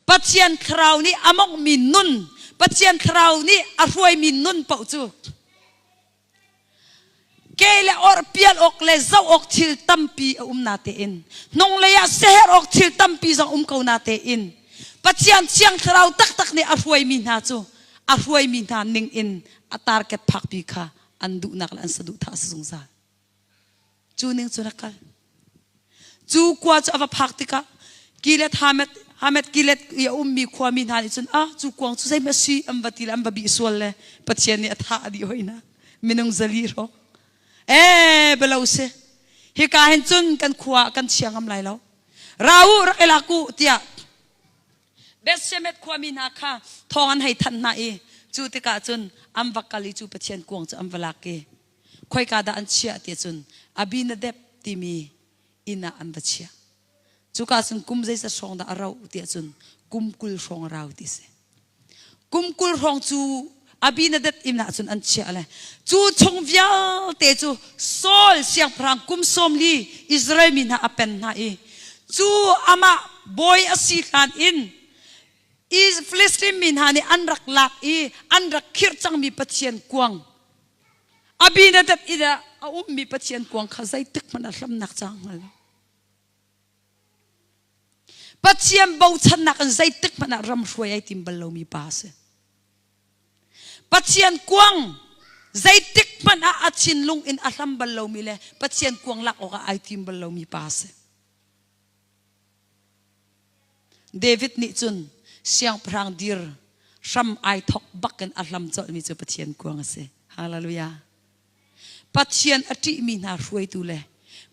Pathian thlarau nih a monghmi nun, Pathian thlarau nih a hruaimi nun paoh cu ke le or pial awk le zoh awk thil tampi a um na tein hnunglei ah seher awk thil tampi zong um ko na tein Pathian thiang thlarau taktak nih a hruaimi hna cu a hruaimi hna ning in a tarket phakpi kha an duhnak le an saduhthah a si zungzal Cu ning cu rak kal. Cu kua cu a va phak tikah kilet hamet hamet kilet i a ummi khuami hna nih cun ah cu kuang cu zeihmanh a si an va ti le an va bih sual le Pathian nih a thah a dih hoi na minung zali ro ee belo si hika hin cun kan khua ah kan chia ngam lai lo ra u rak i lak u tiah Bethshemesh khuami hna kha thong an hei thanh hna i cu tikah cun an va kal i cu Pathian kuang cu an va lak i khoika dah an chiah ti cun Abinadab timi inn ah an va chiah. Cuka cun kum zeizat hrawng dah a rauh tiah cun kum kul hrawng a rau ti si. Kum kul hrawng cu Abinadab inn ah cun an chiah le cu chung vialte cu Saul siangpahrang kum sawmli Israel mi hna a pen hna i cu amah bawi a si hlan in Filistin mi hna nih an rak lak i an rak khirh cangmi Pathian kuang Abinadab i ah a ummi Pathian kuang kha zeitik hmanh a hlamnak ca hngal lo. Pathian bochannak in zeitik hmanh ah ramhruai ai tim bal lomi pa a si. Pathian kuang zeitik hmanh ah a thinlung in a hlam bal lomi le Pathian kuang lak awkah ai tim bal lomi pa a si. David nih cun siangpahrang dir hram ai thok bak in a hlam colhmi cu Pathian kuang a si. Hallelujah. Pathian a ṭihmi hna hruaitu le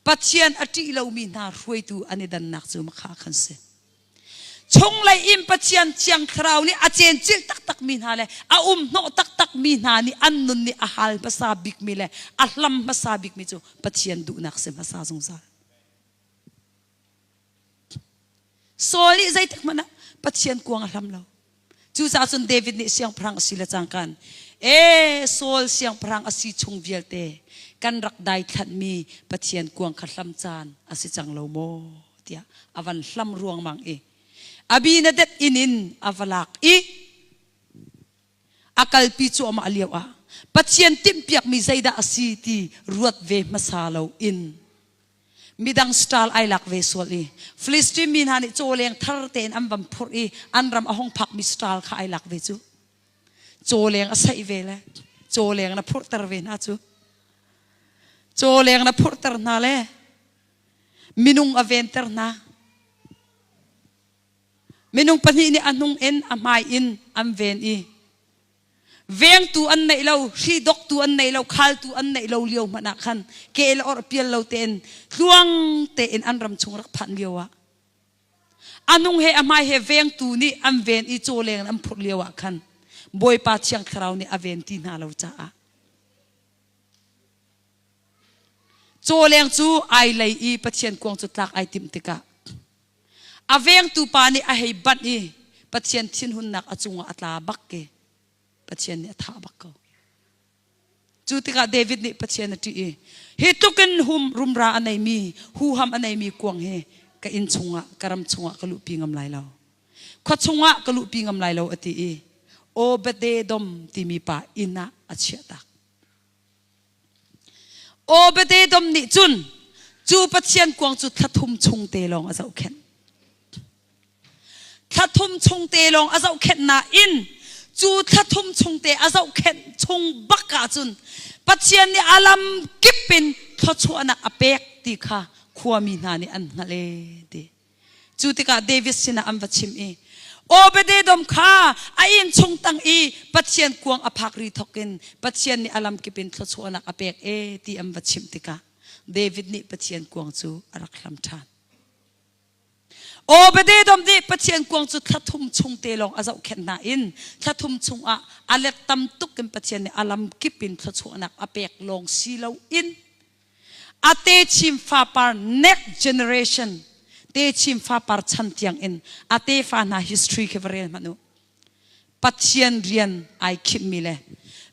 Pathian a ṭih lomi hna hruaitu an i dannak cu makha khan si. Chunglei in Pathian thiang thlarau nih a cencilh taktakmi hna le a umhnawh taktakmi hna nih an nun nih a hal hmasa bikmi le a hlam hmasa bikmi cu Pathian duhnak si hmasa zungzal. Saul nih zeitik hmanh ah Pathian kuang a hlam lo. Cucaah cun David nih siangpahrang a si le cangkan e Saul siangpahrang a si chung vialte kan rak daithlanhmi Pathian kuang kha hlam caan a si cang lo maw tiah a van hlam ruangmang i Abinadab inn in a va lak i A kalpi cu amah lio ah Pathian timhpiakmi zeidah a si ti ruat ve hmasa lo in midang stal ai lak ve sual i Filistin mi hna nih cawleng thar tein an van phurh i an ram a hung phakmi stal kha ai lak ve cu. Cawleng a saih ve le cawleng na phurhter ve hna cu. Cawleng na phurhter hna le minung a venter hna. Minung pahnih nih a hnung in a hmai in an ven i vengtu an neih lo hri doktu an nei lo khaltu an neih lo lio hmanh ah khan ke le or pial lo tein tluang tein an ram chung rak phan lio ah a hnung he a hmai he vengtu nih an ven i caw leng in an phurh lio ah khan Bawipa Thiang Thlarau nih a ven ti hna lo caah caw leng cu ai lei i Pathian kuang cu tlak ai timh tikah A vengtu pa nih a hei banh i Pathian thinhunnak a cungah a tla bak i Pathian nih a thah bak ko. Cu tikah David nih Pathian a ṭih i hi tlukin hum rumra a neimi huham a neimi kuang hi ka inn chungah ka ram chungah ka luhpi ngam lai lo. Khua chungah ka luhpi ngam lai lo a ti i Obed-edom timi pa inn ah a chiah tak. Obededom nih cun cu Pathian kuang cu thlathum chung te lawng a zohkhenh. Thlathum chung te lawng a zohkhenh nain cu thlathum chung te a zohkhenh chung bak ah cun Pathian nih a lam kip in thluachuahnak a pek ti kha khuami hna nih an hngalh ee ti. Cu tikah David sinah an va chim i, Obed-edom kha a inn chung tang i Pathian kuang a phak ri thawk in Pathian nih a lamkip in thluachuahnak a pek e ti an va chimh tikah David nih Pathian kuang cu a rak hlam ṭhan. Obed-edom nih Pathian kuang cu thla thum chung te lawng a zohkhenh hna in thla thum chungah a let tam tuk in Pathian nih a lamkip in thluachuahnak a pek lawng si lo in Atechim fapar next generation techim fapar chan tiang in ate fa hna history khi va rel manu pathian rian ai khim mi le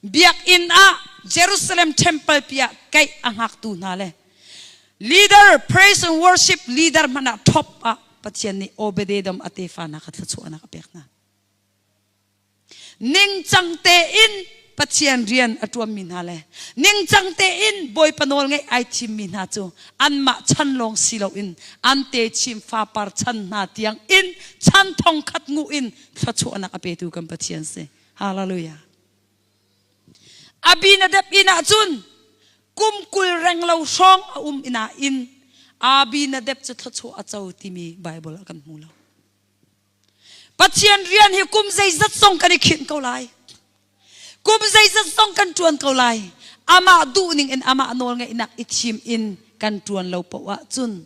biakinn ah Jerusalem temple pia kai angak tu hna le leader praise and worship leader mana top ah pathian nih obededom ate fa na ka thlachu ana ka pek na ningcang tein Pathian rian a ṭuanmi hna le ningcang tein Bawipa nawl ngaih ai thimmi hna cu anmah chan lawng si loin an techim fapar chan hna tiang in chan thongkhat nguh in thluachuahnak a petu kan Pathian si. Hallelujah. Abinadab inn ahcun kum kul renglo hrawng a um ina in Abinadab cu thluachuah a co timi Bible ah kan hmu lo. Pathian rian hi kum zeizat zong kan i khinh ko lai. Kum zeizat zong kan ṭuan ko lai. Amah duh ning in amah nawl ngaihnak i thim in kan ṭuan lo poah ah cun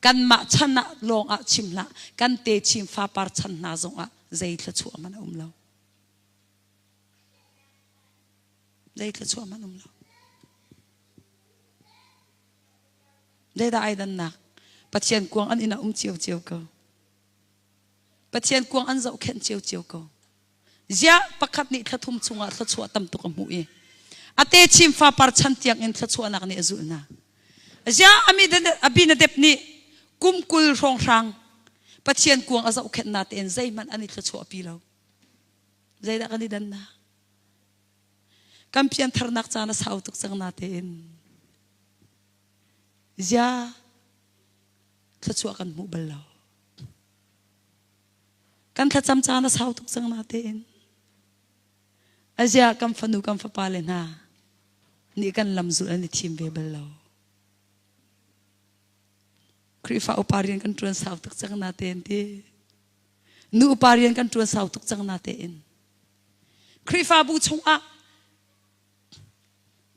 kanmah chan ah lawng ah chim hlah, kan te chim fapar chan hna zong ah zei thluachuah man a um lo. Zei thluachuah man um lo. Zeidah ai dannak? Pathian kuang an ina um cio cio ko. Pathian kuang an zohkhenh ciocio ko. Ziah pakhat nih thlathum chungah thluachuah tam tuk a hmuh i a techim fa par chan tiangin thluachuahnak nih a zulh hna. Ziah Abinadab nih kum kul hrawnghrang Pathian kuang a zohkhenh na tein zeihmanh an i thluachuahpi lo. Zeidah kan i dannak? Kan piantharnak caan a sau tuk cang na tein. Ziah thluachuah kan hmuh bal lo kan thlacam caan a sau tuk cang na tein aziah kan fanu kan fapa le hna nih kan lam zul an i thim ve bal lo Khrihfa upa rian kan ṭuan sau tuk cang na tein ti nu upa rian kan ṭuan sau tuk cang na tein Khrihfabu chungah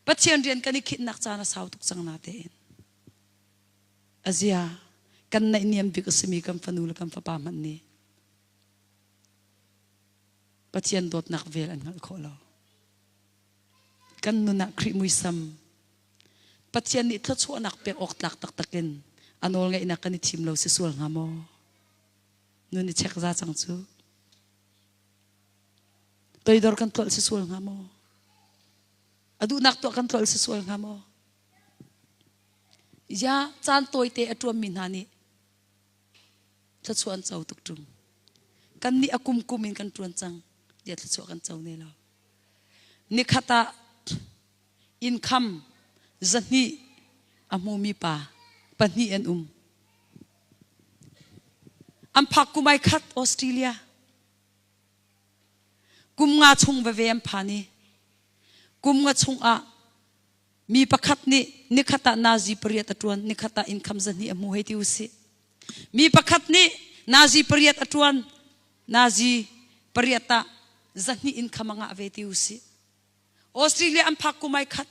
Pathian rian kan i khinhnak caan a sau tuk cang na tein A zia, kan naihniam bik a simi kan fanu le kan fapa hmanh nih Pathian dawtnak vel an hngalh khawh lo. Kan nun ah Khrih muisam, Pathian nih thluachuahnak pek awk tlak taktak in a nawlngeihnak kan i thim lo si sual hnga maw? Nun i chek za cang cu. Toidor kan tlolh si sual hnga maw? A duhnak tuah kan tlolh si sual hnga maw? Ya caan tawite a ṭuanmi hna nih thluachuah an co tuk ṭung. Kannih a kumkum in kan ṭuan cang tiah thluachuah kan co ne lo. Nikhat ah innkham zahnih a hmumi pa pahnih an um. An phak kum ai khat Australia. Kum nga chung veve an phan i kum nga chung ah mi pakhat nih nikhat ah nazi pariat a ṭuan nikhat ah income zahnih a hmu hei ti usih mi pakhat nih nazi pariat a ṭuan nazi pariat ah zahnih income a ngah ve ti usih Australia an phak kumai khat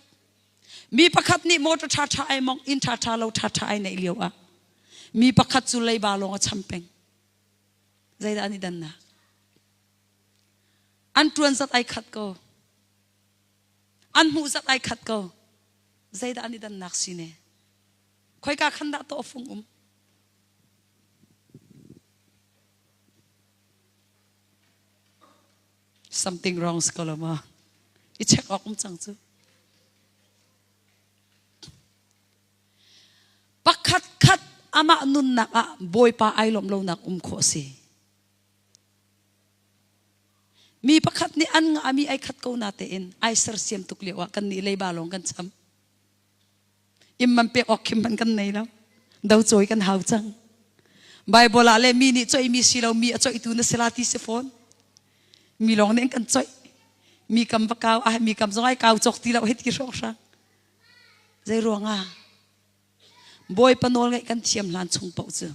mi pakhat nih motor ṭha ṭha ai mong inn ṭha ṭha lo ṭha ṭha ai neih lio ah mi pakhat cu leiba lawng a cham peng zeidah an i dannak an ṭuan zat ai khat ko an hmuh zat ai khat ko zeidah an i dannak si ne khoika khan dah to fung um something wrongs ko lo ma i check awk um cang cu pakhat khat amah nunnak ah bawipa ai lawm lonak um khawh si Mi pakhat nih an ngahmi ai khat ko na tein ai sersiam tuk lio ah kan nih leiba lawng kan cham. Im man pek awk khim man kan nei lo. Do cawi kan hau cang. Bible ah le mi nih coi mi si lo mi a coi tu na sila ti si fawn. Mi lawng nih kan coi. Mi kam va kau ah mi kam zong ai kau chok ti lo hit ki hrong hrang. Zei ruang ah? Bawi panawl ngaih kan thiam hlan chung pauh cu.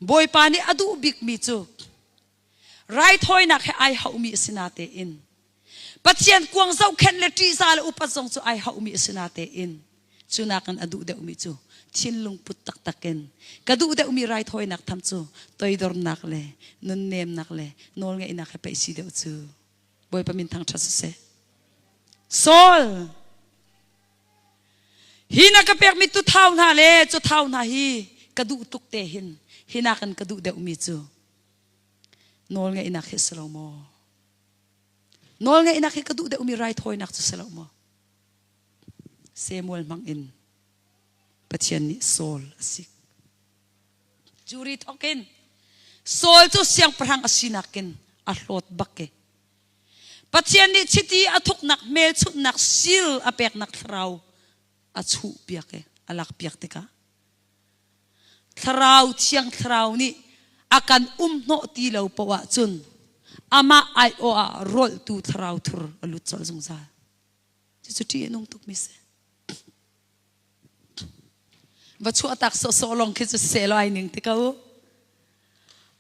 Bawipa nih a duh bikmi cu raithawinak he ai hauhmi a si na tein Pathian kuang zohkhenh le ṭihza le upat zong cu ai hauhmi a si na tein cu nakin a duh deuhmi cu thinlung put taktak in ka duh deuhmi raithawinak tham cu toidornak le nunnemnak le nawlngeihnak he peih si deuh cu Bawipa min thangṭhat siseh. Saul hi na ka pekmi tu thau hna le cu thau hna hi ka duh tuk te hin hi nakin ka duh deuhmi cu nawl ngaihnak hi si lo maw nawl ngaihnak hi ka duh deuhmi raithawinak cu si lo maw Samuel hmang in Pathian nih Saul a si cu ri thawkin Saul cu siangpahrang a sinak in a hlawt bak ke Pathian nih chiti a thuknak hmelchunhnak sir a peknak thlarau a chuhpiak i a lakpiak tikah thlarau thiang thlarau nih a kan umhnawh ti lo poah ahcun amah aiawh ah rawltu thlarau thur a lut colh zungzal cucu ṭih a nung tukmi a si va chuahtak sawhsawh lawng khi cu seh law ai ning ti ko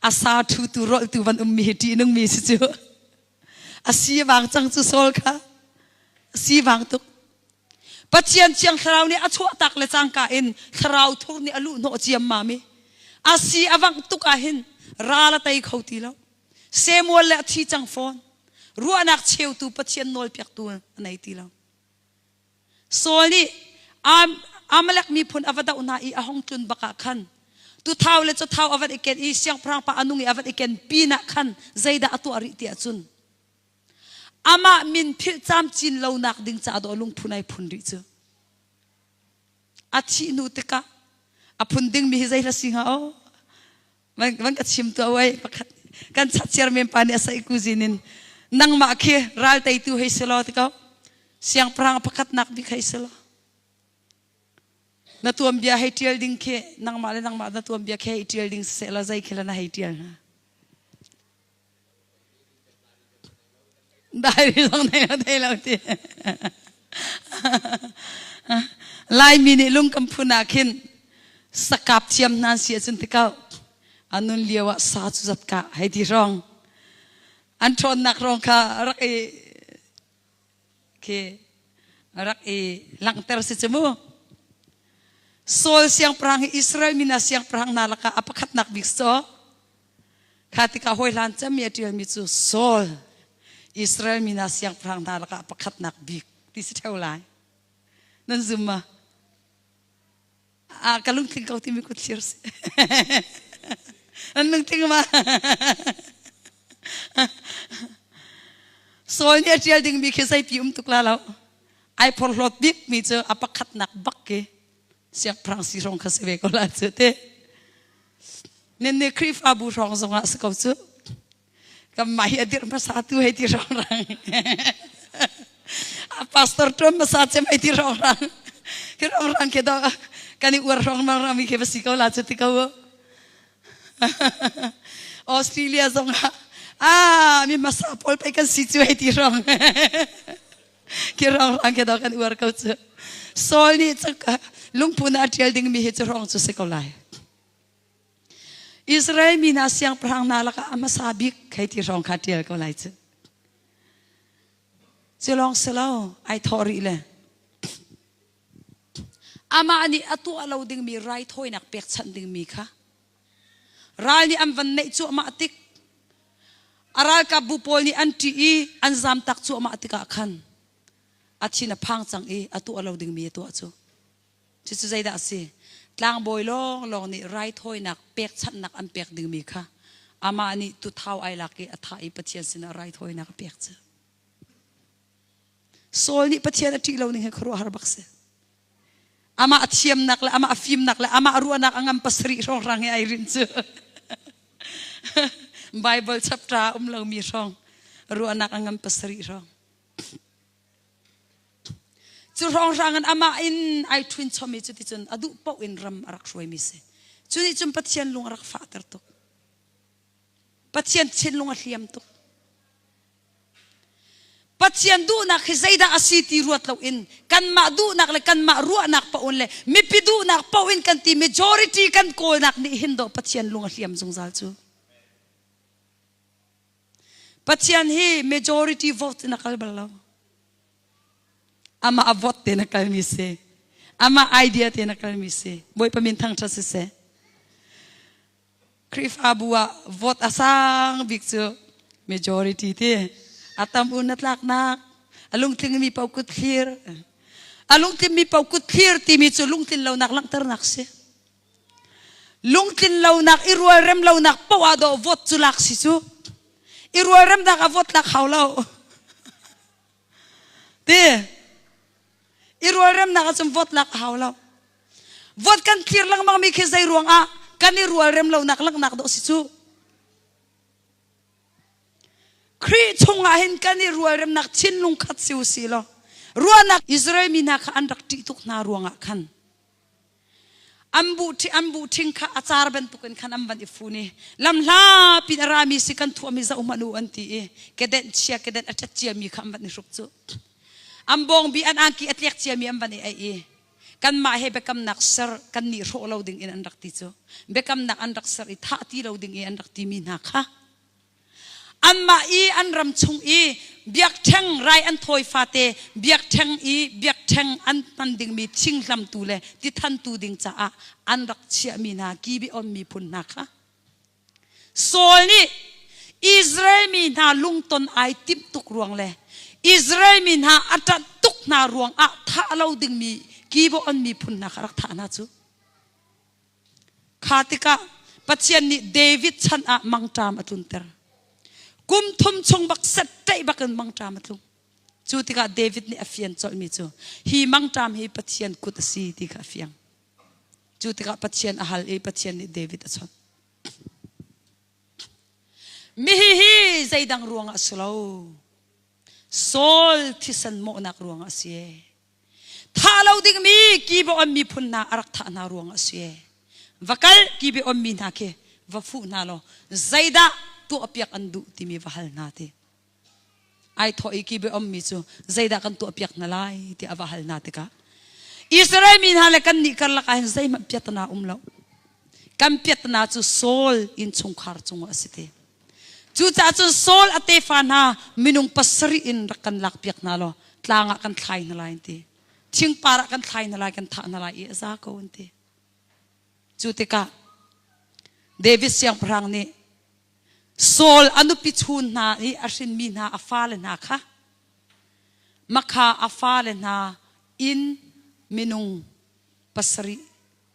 asa thu tu rol tu van um mi ti nung mi si cu asi wang cang cu sol kha asi wang tuk pathian chiang thlarau nih a chuah tak le cangka in thlarau thur nih a lu hnawh ciam ma mi asi awang tuk ah hin ral a tei kho ti lo semual le a thi cang fawn ruahnak cheu tu pathian nawl piak tu a nei ti lo Saul nih Amalek miphun a va doh hna i a hung tlun bak ah khan tuthau le cathau a van i ken i siangpahrang pa a nung i a van i ken pinah khan zeidah a tuah rih tiah cun amah min philh camcin lonak ding caah daw lungphun ai phun rih cu a thih hnu tikah a phun dingmi hi zei hla si hnga aw van van ka chim tu awai pakhat kan chat siar men pa nih sai kuzin in nangmah khi ral tei tu hei selo ti ko siangpahrang pakhat nak bik hei selo na tuam bia hei tial ding khi nangmah le nangmah na tuam bia khi hei tial ding se la zai khila na hei tial na Diary zong nei lo thei lo ti. Laimi nih lung kan phun ah khin sakap thiam hnan si acun tikau anun lio ah sa cu zatka hei ti rong an ṭhawnnak rong kha rak i khi rak i langter si cu mu Saul siangpahrang hi Israel mina siangpahrang na laka a pakhatnak bik so Kha tikah hawihlan cami a ṭialmi cu Saul Israel mi hna siangpahrang hna lakah pakhatnak bik ti si ṭheo lai. Nan zum ma? Ah, ka lungtling ko timi kut thlir si. An lungtling ma? Saul nih a ṭial dingmi khi zeipi um tuk la lo. Ai phorhlawt bikmi cu a pakhatnak bak khi siangpahrang si hrawng kha si ve ko la cu te nen ne khrifabu hrawng zong ah si ko cu kan mah hi adir hmasa tu hei ti hrawng rang a pastor tum hmasa chem hei ti hrawng rang khi hrawng rang ke do kan i uar hrawng mang rang mi ke va si ko la cu ti ko Australia zong ah ah mi hmasa pawl pei kan si cu hei ti hrawng Kirorang ke dok an uar ko cu. Saul nih lungput ah ṭial dingmi hi cu rong cu si ko lai. Israel mi na siangpahrang na lakah a hmasa bik khei ti hrawng kha ṭial ko lai cu. Cu lawng si lo, ai thawh rih le amah nih a tuah lo dingmi raithawinak pekchanh dingmi kha Ral nih an van neih cuahmah tik, a ralkapbu pawl nih an ṭih i an zamtak cuahmah tikah khan a thin a phang cang i a tuah lo dingmi a tuah cu. Cucu zeidah a si? Tlangbawi lawnglawng nih raithawinak pekchanhnak an pek dingmi kha amah nih tuthau ai lak i a thah i Pathian sinah raithawinak a pek cu. Saul nih Pathian a ṭih lo ning hi khuaruahhar bak si. Amah a thiamnak le amah a fimnak le amah a ruahnak a ngam pasarih hrawnghrang he ai rinh cu. Bible chapter ah um lomi hrawng ruahnak a ngam pasarih hrawng. Cu hrawnghrang in amah in ai ṭhunchom i cuticun a duh paoh in ram a rak hruaimi si. Cu nih cun Pathian lung a rak fahter tuk. Pathian thinlung a hliam tuk. Pathian duhnak hi zeidah a si ti ruat loin kanmah duhnak le kanmah ruahnak paoh in le mipi duhnak paoh in kan ti majority kan kawlnak nih hin do Pathian lung a hliam zungzal cu. Pathian hi majority vote in a kal bal lo. Amah a vote te na kalmi si. Amah idea te na kalmi si. Bawipa min thang ṭha si seh. Khrihfabu ah vote a sang bik cu majority ti a tam un na tlaknak a lungtlingmi pau kut thlir a lungtlinmi pau kut thlir timi cu lungtlin lonak langhternak si lungtlin lonak i rualrem lonak poah do vote cu lak si cu i rualremnak a vote lak hau lo ti i rualremnak ahcun vote lak a hau lo vote kan thlir lengmang mi khi zei ruangah kan i rualrem lonak langhnak dawh si cu Khrih chungah hin kan i rualremnak thinlung khat si u si law ruahnak Israel mi hna kha an rak ṭih tuk hna ruangah khan an buh an buh ṭhing kha a car bantuk in khan an van i fun i lam hla pin a rami si kan thuahmi zoh manu an ti i kedenh chia kedenh a ṭhat ciami kha an van i hrup cu an bawngbi an angki a tliak ciami an van i ei i kanmah he biakamnak ser kan nih hrawh lo ding in an rak ti cu biakamnak an rak ser i thah ti lo ding i an rak timi hna kha Anmah i an ram chung i biakṭheng rai an thawi fate biakṭheng i biakṭheng an hman dingmi thinghlamtu le tithantu ding caah an rak chiahmi hna Gibeon miphun hna kha Saul nih Israel mi hna lungton ai timh tuk ruang le Israel mi hna a ṭanh tuk hna ruangah thah lo dingmi Gibeon miphun hna kha rak thah hna cu. Kha tikah Pathian nih David chan ah mangṭam a tlunter. Kum thum chung bak set ṭaih bak in mangṭam a tlung. Cu tikah David nih a fian colhmi cu hi mangṭam hi Pathian kut a si ti kha a fiang. Cu tikah Pathian a hal i Pathian nih David a chawnh. Mihi hi zeidang ruangah a si lo. Saul thisen mawhnak ruangah a si. Tha lo dingmi kibaon miphun hna a rak thah hna ruang a si. Va kal kibeon mi hna khi va fuh hna law zeidah tuahpiak an duh timi va hal hna ti. Ai thawh i kibeom mi cu zeidah kan tuahpiak hna lai ti a va hal hna tikah Israel mi hna le kan nih karlak ah hin zeihmanh piatna um lo. kan piatnak cu Saul innchungkhar cung a si ti. Cucaah cun Saul a tefa hna minung pasarih in rak kan lakpiak hna law tlang ah kan thlai hna lai an ti. Thingpar ah kan thlai hna lai, kan thah hna lai i a za ko an ti. Cu tikah David siangpahrang nih Saul a nupi chun hna i a hrinmi hna a fale hna kha makha a fale hna in minung pasarih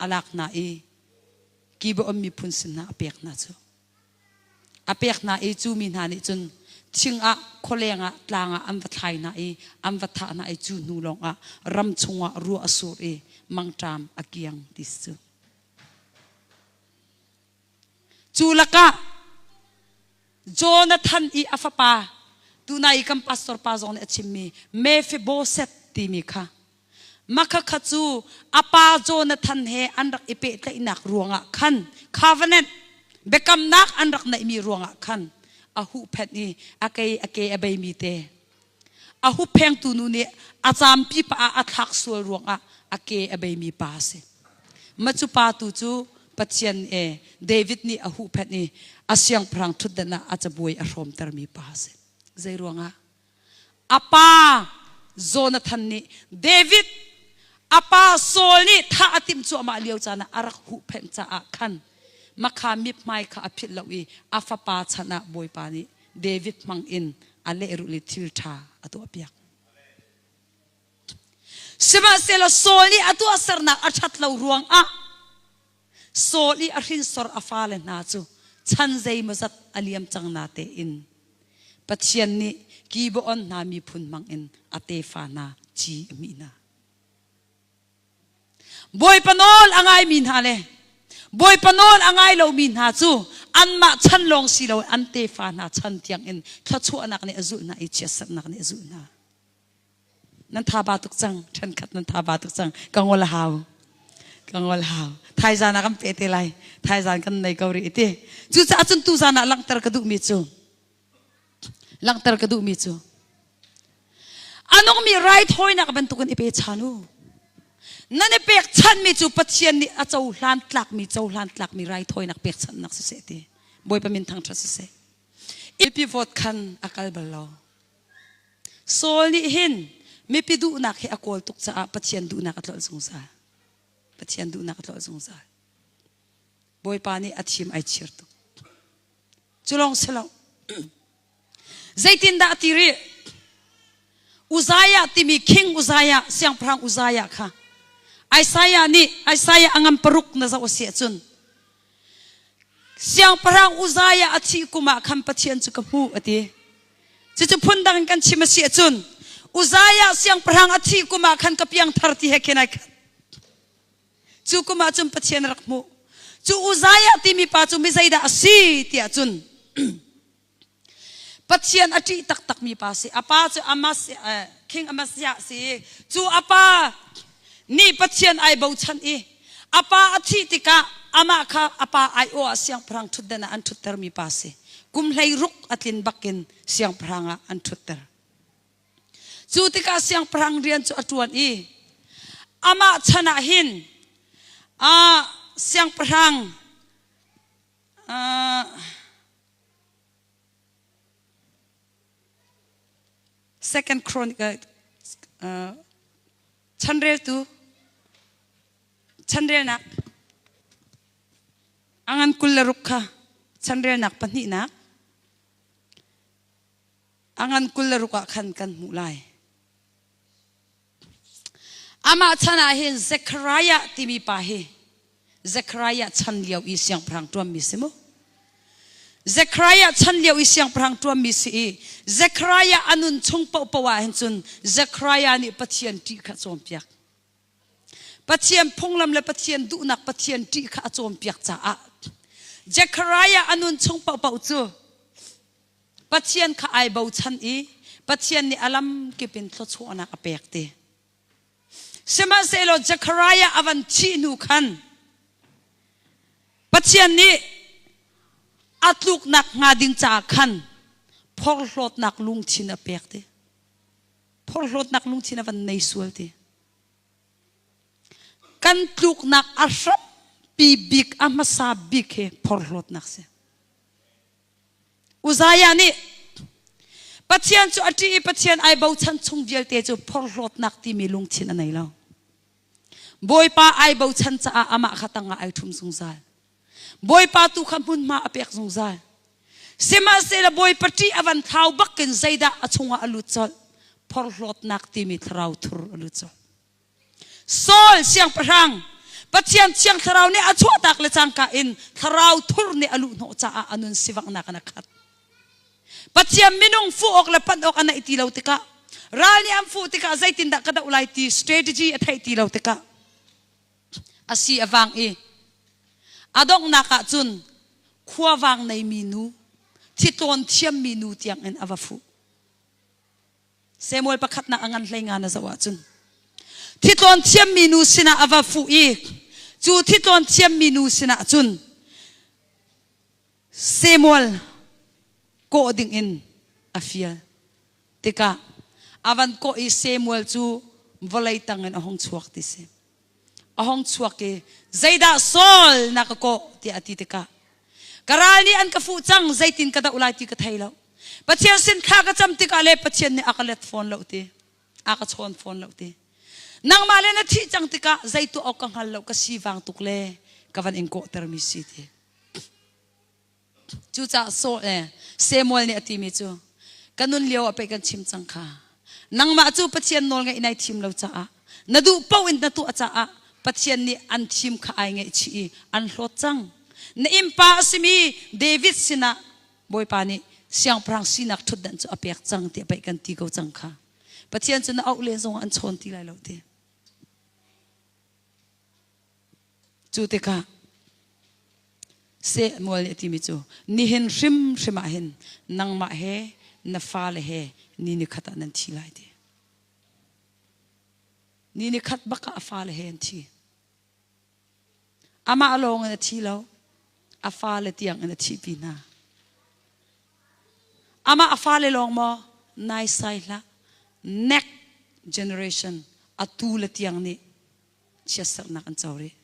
a lak hna i Gibeon miphun sin hna a pek hna cu a pek hna i cu mi hna nih cun thing ah khualeng ah tlang ah an va thlai hna i an va thah hna i cu hnu lawng ah ram chungah ruah a sur i mangṭam a kiang ti cu Cu lakah Jonathan i a fapa tunai kan pastor pa zong nih a chimmi Mephibosheth timi kha makha kha cu a pa Jonathan he an rak i pehtlaihnak ruangah khan covenant biakamnak an rak neihmi ruangah khan a huhphenh i a ke a ke a beimi te A hupphengtu nu nih a caampi pa ah a thlak sual ruangah a ke a beimi pa a si. Macu pa tu cu Pathian e David nih a huhphenh i a siangpahrang ṭhutdan ah a cabuai a hrawmtermi pa a si. Zei ruangah? A pa Jonathan nih David a pa Saul nih thah a timh cuahmah lio caan ah a rak huhphenh caah khan makha mithmai kha a philh lo i a fapa chan ah bawipa nih David hmangin a lehrulh i thilṭha a tuahpiak. Sihmanhsehlaw Saul nih a tuahsernak a ṭhat lo ruangah Saul i a hrinsor a fale hna cu chan zeimawzat a liam cang na tein Pathian nih Gibeon hna miphun hmangin a tefa hna ci a mih hna. Bawipa nawl a ngaimi hna le Bawipa nawl a ngai lomi hna cu anmah chan lawng si lo an tefa hna chan tiangin thluachuahnak nih a zulh hna i chiatserhnak nih a zulh hna. Nan thaba tuk cang, ṭhenkhat nan thaba tuk cang, ka ngol a hau. Ka ngol hau. Thaizan ah kan pe te lai. Thaizan kan nei ko rih ti. Cucaah cun tu zan ah langhter ka duhmi cu Langhter ka duhmi cu a nungmi rai thawinak bantukin i pe chan u nan i pekchanmi cu Pathian nih a cohlan tlakmi cohlan tlakmi rai thawinak pekchanhnak siseh ti Bawipa min thangṭhat siseh mipi vote khan a kal bal lo Saul nih hin mipi duhnak hi a kawl tuk caah Pathian duhnak a tlolh zungzal Pathian duhnak a tlolh zungzal Bawipa nih a thim ai chir tuk. Cu lawng si lo. Zeitindah a ti rih? Uzziah timi king Uzziah, siangpahrang Uzziah kha Isaiah nih Isaiah a ngan paruk na zoh a si ahcun siangpahrang Uzziah a thih kum ah khan Pathian cu ka hmuh a ti. Cucu phundang in kan chim a si ahcun Uzziah siangpahrang a thih kum ah khan ka piangthar ti he khin ai khat. Cu kum ah cun Pathian a rak hmuh. Cu Uzziah timi pa cu mi zeidah a si tiah cun Pathian a ṭih taktakmi pa a si. A pa cu Amasiah, eh, King Amasiah a si i cu a pa nih Pathian ai bochan i a pa a thih tikah amah kha a pa aiawh ah siangpahrang ṭhutden ah an ṭhutermi pa a si. Kum hlei ruk a tlin bakin siangpahrang ah an ṭhutter. Cu tikah siangpahrang rian cu a ṭuan i amah chan ah hin ah siangpahrang ah Second Chronicle uh, chanreltu chanrelnak angan kul le ruk kha chanrelnak pahnihnak a ngan kul le ruk ah khan kan hmuh lai. Amah chan ah hin Zechariah timi pa hi Zechariah chan lio i siangpahrang ṭuanmi si mu. Zechariah chan lio i siangpahrang ṭuanmi si i Zechariah a nun chung pohpoh ah hin cun Zechariah nih Pathian ṭih kha a cawnpiak. Pathian phunglam le Pathian duhnak Pathian ṭih kha a cawnpiak caah Zechariah a nun chung pohpoh cu Pathian kha ai bochan i Pathian nih a lam kip in thluachuahnak a pek ti. Sihmanhsehlaw Zechariah a van thih hnu khan Pathian nih a tluknak hnga ding caah khan phorhlawtnak lungthin a pek ti. Phorhlawtnak lungthin a van nei sual ti. Kan tluknak a hratpi bik, a hmasa bik hi phorhlawtnak si. Uzziah nih Pathian cu a ṭih i Pathian ai bochan chung vialte cu phorhlawtnak timi lungthin a nei lo. Bawipa ai bochan caah amah kha tangah ai ṭhum zungzal. Bawipa tu kha hmunhma a pek zungzal. Sihmahsehlaw Bawipa ṭih a van thlau bakin zeidah a chungah a lut colh? Phorhlawtnak timi thlarau thur a lut colh. Saul siangpahrang Pathian thiang thlarau nih a chuahtak le cangka in thlarau thur nih a luh hnawh caah a nun sivangnak in a khat. Pathian minung fuh awk le panh awk a naih ti lo tikah ral nih an fuh tikah zeitindah ka doh lai ti strategy a theih ti lo tikah a si a vang i a donghnak ah cun khuavang neimi nu, thitlawn thiammi nu tiangin a va fuh. Samuel pakhatnak a ngan hleinga na zoh ahcun Thitlon thiammi nu sinah a va fuh i cu thitlon thiammi nu sinah cun Samuel kawh dingin a fial tikah a van kawh i Samuel cu vawlei tangin a hung chuak ti si. a hong chuak i zeidah Saul na ka kawh tiah a ti tikah ka ral nih an ka fuh cang zeitin ka doh lai ti ka thei lo Pathian sin kha ka cam tikah le Pathian nih a ka let fawn lo ti a ka chawn fawn lo ti nangmah le na thih cang tikah zei tuah awk ka hngal lo ka si vang tuk le ka van in kawhtermi si ti Cucaah Saul le Samuel nih a timi cu ka nun lio ah pei kan chim cang kha. Nangmah cu Pathian nawlngaih nai thim lo caah na duh paoh in na tuah caah Pathian nih an thim kha ai ngaihchih i an hlawt cang. Na innpa a simi David sinah Bawipa nih siangpahrang sinak ṭhutdanh cu a pek cang tiah pei kan ti ko cang kha. Pathian cu na auh len zongah an chawn ti lai lo ti. Cu tikah seh mual a timi cu nihin hrimhrim ah hin nangmah he na fale he ni ni khat ah nan thi lai ti. Ni ni khat bak ah a fale he an thi. Amah lawng in a thi lo, a fale tiang in a thi pi hna. Amah a fale lawng maw nai sai hlah. Next generation atu le tiang nih chiatsaknak an co rih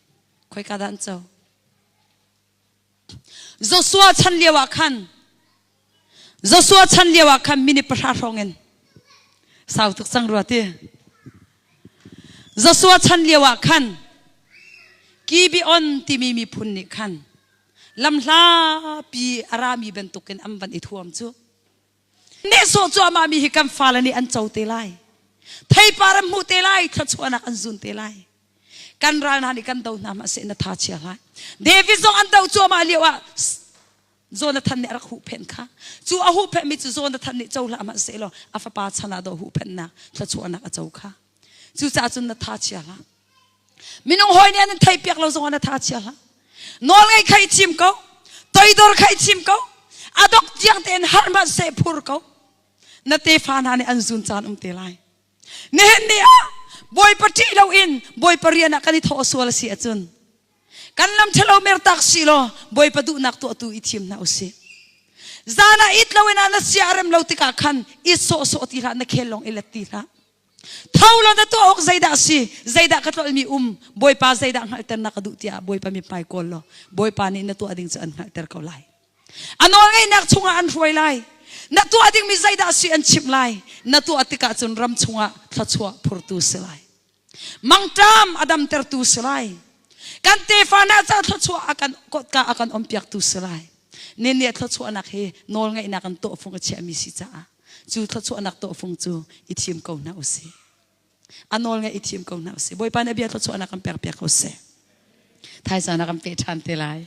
khoika dah an co Joshua chan lio ah khan Joshua chan lio ah khan minute pahra hrawng in sau tuk sang rua ti Joshua chan lio ah khan Gibeon timi miphun nih khan lamhla pi a rami bantukin an van i thuam cu Nehsawh cuahmahmi hi kan fale nih an co te lai. Theipar an hmuh te lai, thluachuahnak an zun te lai. Kan ral hna nih kan do hna ma seh na tha chia hlai. David zong an do cuahmah lio ah Jonathan nih a rak huhphenh kha. Cu a huhphenhmi cu Jonathan nih co hlah ma seh law a fapa chan ah daw huhphenhnak thluachuahnak a co kha. Cucaah cun na tha chia hlah. minung hoi nih an thei piak lo zong an tha chia hla nawl ngei khai chim ko toidor khai chim ko adok tiang tein har ma se phur ko na te fa hna nih an zun caan um te lai nihin ni ah boi pati lo in boi parian ah kan i tho sual si acun kan lam thelo mer tak si lo boi pa duh nak to tu i thim na usi zana it lo in ana sia rem lo tikah khan i so so ti la na khel long i let ti la tho lo na tuah awk zeidah a si zeidah ka tlolmi um bawipa zeidah hngalhter na ka duh tiah bawipa mithmai kawl law bawipa nih na tuah ding cu an hngalhter ko lai a nawlngeihnak chungah an hruai lai na tuah dingmi zeidah si an chimh lai na tuah tikah cun ram chungah thluachuah phurtu si lai mangṭam a damtertu si lai kan tefa na ca thluachuah a kan kotka a kan ompiaktu si lai ninni thluachuahnak hi nawlngeihnak an tawhfung a chiahmi si caah cu thluachuahnak tawhfung cu i thim ko hna usih a nawl nge i thim ko hna usih bawipa nih bia thluachuahnak kan pekpiak usih thaizana kan pe ṭhan te lai